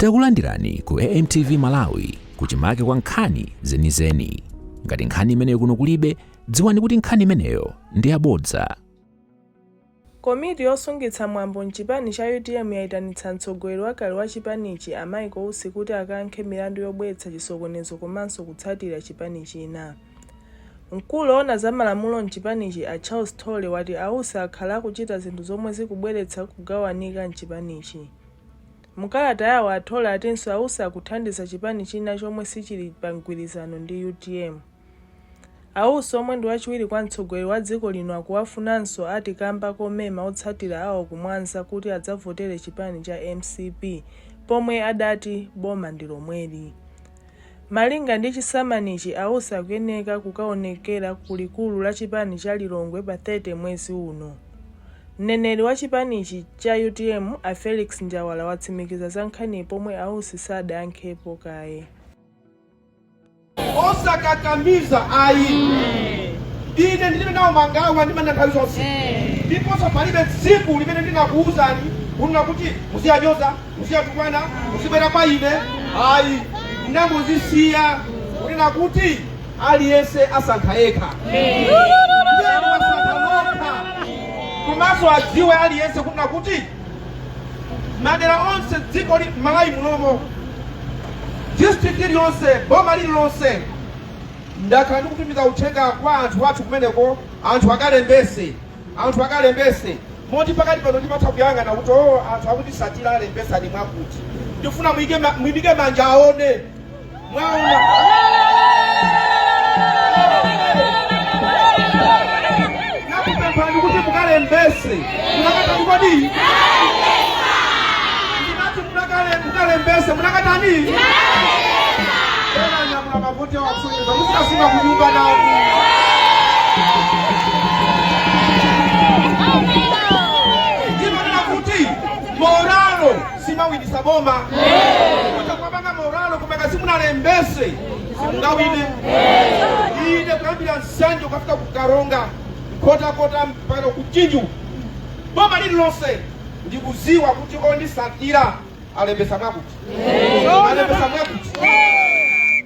Takulandirani ku AMTV Malawi kuchimake kwa nkhani zenizeni. Ngati nkhani imeneyo kuno kulibe, dziwani kuti nkhani imeneyo ndi yabodza. Komiti yosungitsa mwambo m'chipani cha utm yaitanitsa mtsogoleri wakale wa chipanichi a Michael Usi kuti akayankhe milandu yobweretsa chisokonezo komanso kutsatira chipani china. Mkulu oona za malamulo m'chipanichi a Charles Thole ati a Usi akhala akuchita zinthu zomwe zikubweretsa kugawanika m'chipanichi. Mkalata yawo a Thole atinso a Usi akuthandiza chipani china chomwe sichili pa mgwirizano ndi utm. A Usi omwe ndi wachiwiri kwa mtsogoleri wa dziko lino akuwafunanso ati kamba komema otsatira awo ku Mwanza kuti adzavotere chipani cha mcp pomwe adati boma ndi lomweli. Malinga ndi chisamanichi a Usi akuyeneka kukaonekera ku likulu la chipanicha Lilongwe pa 30 mwezi uno. Mneneri wa chipanichi cha utm a Felix Njawala watsimikiza za nkhaniyi pomwe a Usi sadayankhepo kaye. osakakamiza ayi ine ndilibe nawo mangawa ndimanena nthawi zonse ndiponso palibe tsiku limene ndinakuwuzani kunena kuti muziyanyoza muziyatukwana muzibwera kwa ine ayi ndinangozisiya kunena kuti aliyense asankha yekha komanso adziwe aliyense kunena kuti madera onse dziko la Malawi munomo district iliyonse boma lililonse ndakhala ndikutumiza uthenga kwa anthu athu kumeneko anthu akalembese anthu akalembese moti pakati pano ndimatha kuyang'ana kuti o oh, anthu akutisatira alembesa ali mwakuti ndifuna mwimike manja aone mwaona ndinakupemphani kuti mukalembese munakatani kodi ndinati mukalembese munakatani Muzikasunga kunyumba nawo. Ndimanena kuti moralo siimawinisa boma. Mutha kubwabanga moralo koma ngati simunalembese. Simungawine. Ine kuyambira Nsanje kukafika ku Karonga. Nkhotakota mpaka ku Mchinji. Boma lililonse ndikuziwa kuti ondisatira alembesa mwakuti. Alembesa mwakuti.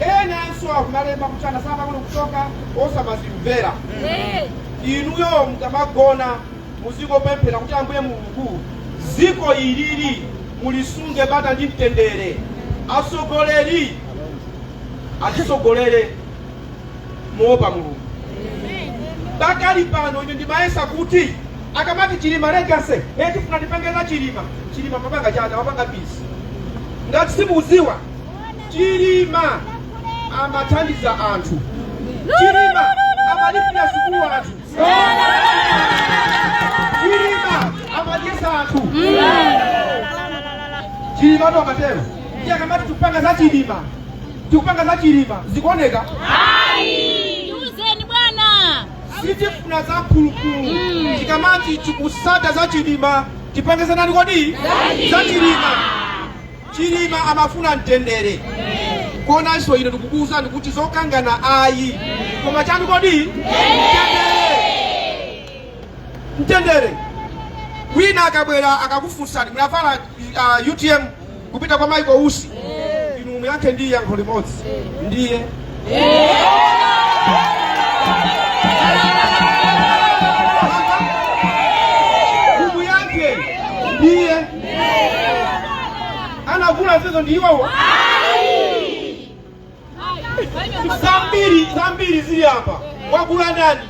enanso akumalemba kuti anasamba kuti kuchoka osamazimvera inuyo mukamagona muzikopemphera kuti ambuye mulungu ziko ilili mulisunge bata ndi mtendere atsogoleri atitsogolere moopa mulungu pakali pano ine ndimayesa kuti akamati chilima legacy tifuna tipange za chilima chilima amapanga chata amapanga peace ngati simuziwa Chilima amathandiza anthu. Chilima amalipira sukulu anthu. Chilima amadyesa anthu. Chilima ndo amatero. Ndiye akamati tikupanga za Chilima. Tikupanga za Chilima. Zikuoneka? Ayi. Uzeni bwana. Sitifuna za mphulupulu. Tikamati tikusata za Chilima. Tipange za nani kodi? Za Chilima. Chilima amafuna mtendere komanso ine ndikukuwuzani kuti zokangana ayi koma chani kodi mtendere mtendere wina akabwera akakufunsani munavala uh, utm kupita kwa Michael Usi inu muyankhe ndi yankho limodzi ndiye Mumuyankhe ndiye anagula zizo ndi iwowo. Zambiri zambiri zili apa, wagula ndani?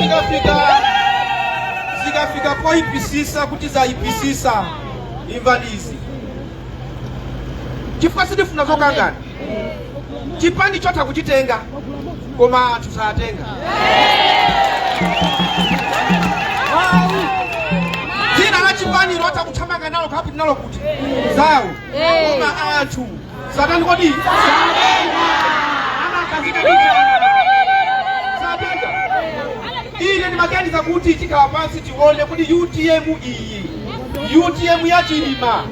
zikafika zikafika poyipisisa kuti zayipisisa imvani izi chifukwa sitifuna zokangana chipani chotha kuchitenga koma anthu satenga dzina la chipani lotha kuthamanga nalo kapite nalo kuti zawo koma anthu satani kodi ine ndimaganiza kuti tikhala pansi tione kuti utm iyi utm ya chilima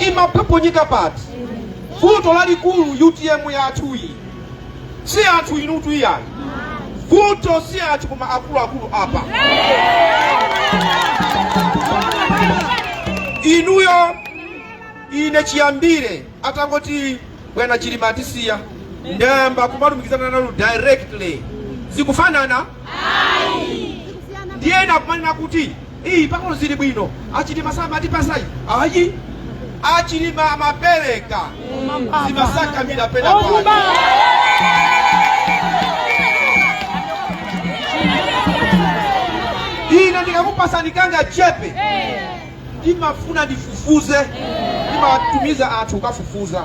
imaphophonyeka pati vuto lalikulu utm yathuyi si anthu inutu iyayi vuto si anthu koma akuluakulu apa inuyo Ine chiyambire atangoti bwana Chilima atisiya ndayamba kumalumikizana nanu directly zikufanana ndiye ena akumanena kuti iyi pang'ono zili bwino achilima samatipasa ayi ayi achilima amapereka zimasakamira pena pake ine ndikakupasani kangachepe ndimafuna ndifufuze ndimatumiza anthu kukafufuza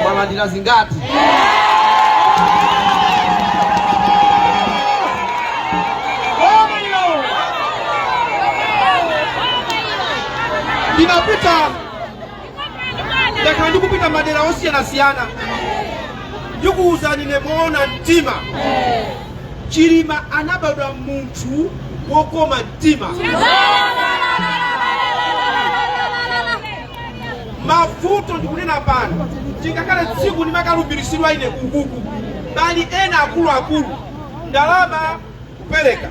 mwalandira zingati ndinapita ndakhala ndikupita madera osiyanasiyana ndikuwuzani ine moona mtima chilima anabadwa munthu wokoma mtima mavuto ndikunena pano chingakhale tsiku ndimakalumbiritsidwa ine kukuku pali ena akuluakulu ndalama kupereka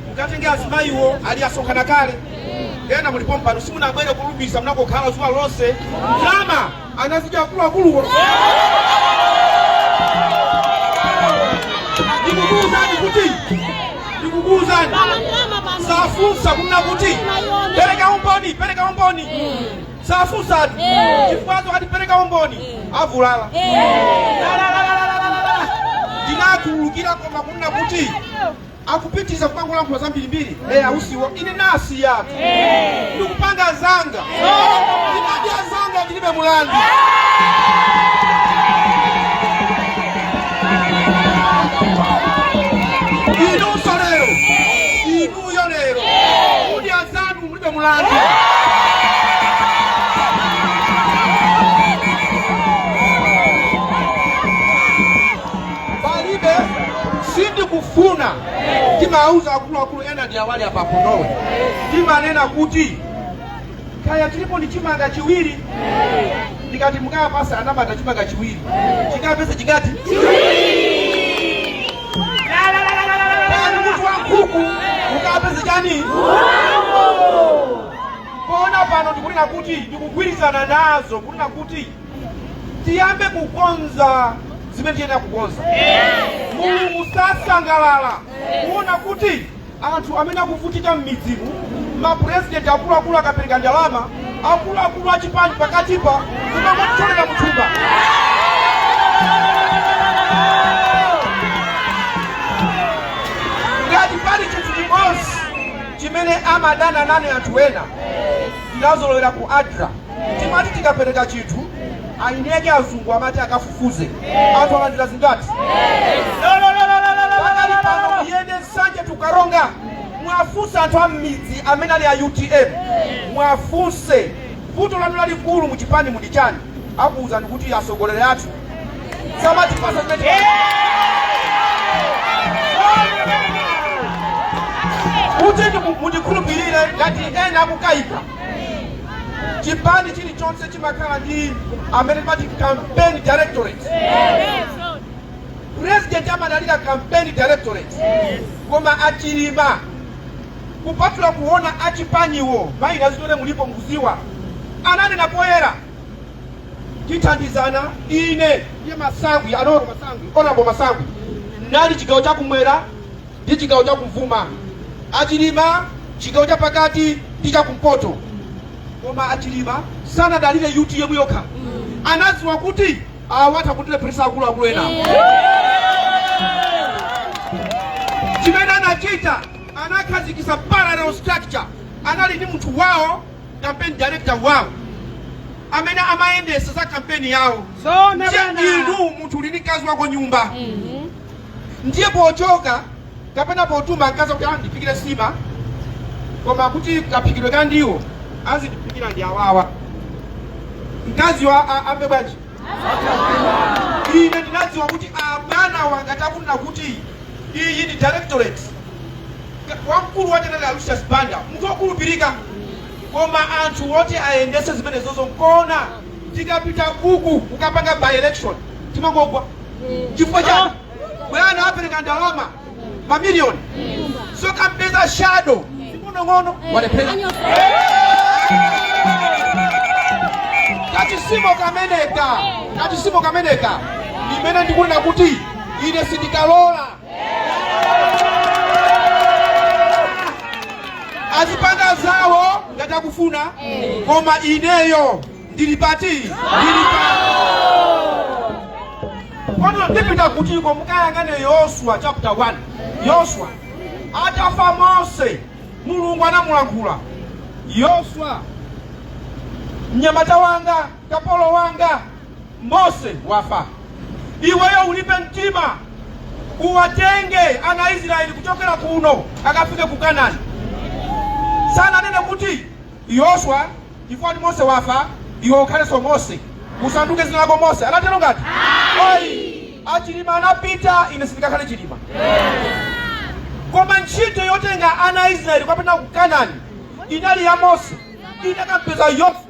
mukatenge azimayiwo ali asonkhana kale ena muli pompano simunabwere kulumbisa munangokhala zuwa lonse ndalama anazidya akuluakuluwo ndikukuuzani kuti ndikukuuzani safunsa kunena kuti pereka umboni pereka umboni safunsatu chifukwa akati pereka umboni avulala ndinakhululukira koma kunena kuti akupitiriza kumangolankhula zambirimbiri e a usiwo ine nasiyatu ndikupanga zanga ndinadya zanga ndilibe mulandu inunso lero inuyo lero kudya zanu mulibe mulandu palibe sindikufuna timauza akuluakulu ena ndi awa ali apa kunowe timanena kuti kaya tilipo ndi chimanga chiwiri ndikati mukapasa anyamata chimanga chiwiri chikapesa chikati pakati mutu wa nkhuku ukapeze chani koma pano ndikunena kuti ndikugwirizana nazo kunena kuti tiyambe kukonza zimene tiyenera kukonza mulungu sasangalala kuona kuti Anthu amene akuvutika mmidzimu, ma president akuluakulu akapereka ndalama, akuluakulu achipani pakatipa kumangotolera muthumba. Ngati pali chinthu chimodzi chimene amadana nane anthu ena, tinazolowera ku adra timati tikapereka chinthu aineke azungu amati akafu fuze anthu alandira zingati pakali pano muyende nsanje to karonga mwafunse anthu a mmidzi amene ali a utm mwafunse vuto lanu lalikulu mu chipanimu ndi chani akuwuzani kuti atsogoleri athu samatipasa zimene kuti ndiku- mundikhulupirire ngati ena akukayika chipani chilichonse chimakhala ndi amene timati campaign directorate president amadalira campaign directorate koma achilima kupatula kuona achipaniwo maina zitere mulipo mkuziwa ananena poyera tithandizana ine ndiye masangwi anoro masangwi onabo masangwi anali chigawo chakumwera ndi chigawo cha kummawa, achilima chigawo cha pakati ndi cha kumpoto. Koma achilima sanadalire UTM yokha, anadziwa kuti awa atha kutilepheresa akuluakulu ena. Chimene anachita anakhazikisa parallel structure, anali ndi munthu wawo campaign director wawo amene amayendetsa za kampeni yawo. Inu munthu uli ndi mkazi wako mnyumba ndiye pochoka kapena potuma mkazi wako kuti andiphikire nsima koma kuti kaphikidwe ka ndiwo azindiphikira ndi awawa mkaziyo a- a- amve bwanji ine ndinadziwa kuti abwana anga akufuna kuti iyi ndi directorate Ka- wamkulu watenga lucius banda munthu wokhulupirika koma anthu woti ayendese zimenezozo nkona tikapita uku kukapanga by election timangogwa chifukwa chani bwana apereka ndalama mamiliyoni osakampeza shado ng'onong'ono walephera kachisimo kameneka kachisimo kameneka imene ndikunena kuti ine sindikalola azipanga zawo ngati akufuna koma ineyo ndili pati ndili pano koma ndipita kutiko mukayang'ane yoswa chapter 1 yoswa atafa mose mulungu anamulankhula yoswa mnyamata wanga kapolo wanga Mose wafa, iweyo ulimbe mtima, uwatenge ana a Israeli kuchokera kuno akafike ku Kanani. Sananene kuti Yoswa, chifukwa kuti Mose wafa, iwe ukhalenso Mose, usanduke dzina lako Mose. Anatero ngati? Ayi, Achilima anapita, ine sindikakhale Chilima. Koma ntchito yotenga ana a Israeli kuwapititsa ku Kanani inali ya Mose, inakampeza Yoswa.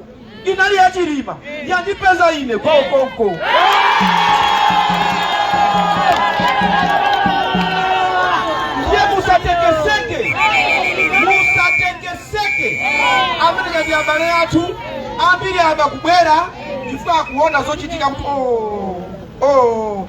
inali ya chilima yandipeza ine ndiye musatekeseke musatekeseke amenewa ndi abale athu ambiri apa akubwera chifukwa akuona zochitika kuti oh, oh.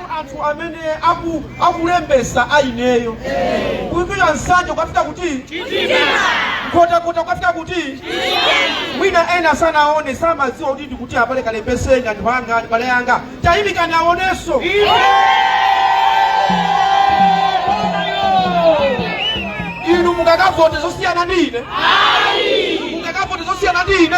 anthu amene aku akulembesa aineyo kuimbira nsanje ukafika kuti nkhotakota ukafika kuti mwina ena sanaone samadziwa kuti ndikuti apale kalembeseni anthu anga abale anga tayimikani aoneso inu mungakavote zosiyana ndi ine mungakavote zosiyana ndi ine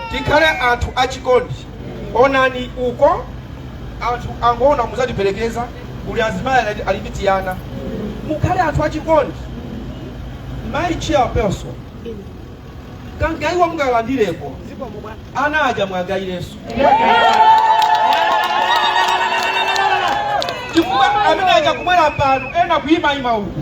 tikhale anthu achikondi onani uko anthu angoona muzatiperekeza kuli azimayi ali ndi tiana mukhale anthu achikondi mayi chairperson kangayiwa mukawandireko ana aja muwagayireso chifukwa amene aja kubwera pano ena kuyimayima uku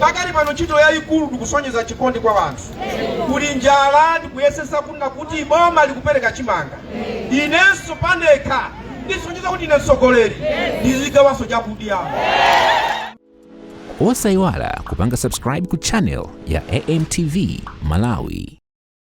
pakali pano ntchito yayikulu ndikusonyeza chikondi kwa wanthu kuli njala ndikuyesesa kuti boma likupereka chimanga inenso pandekha ndisonyeza kuti ine mtsogoleri ndizigawanso chakudya osayiwala kupanga subscribe ku channel ya amtv malawi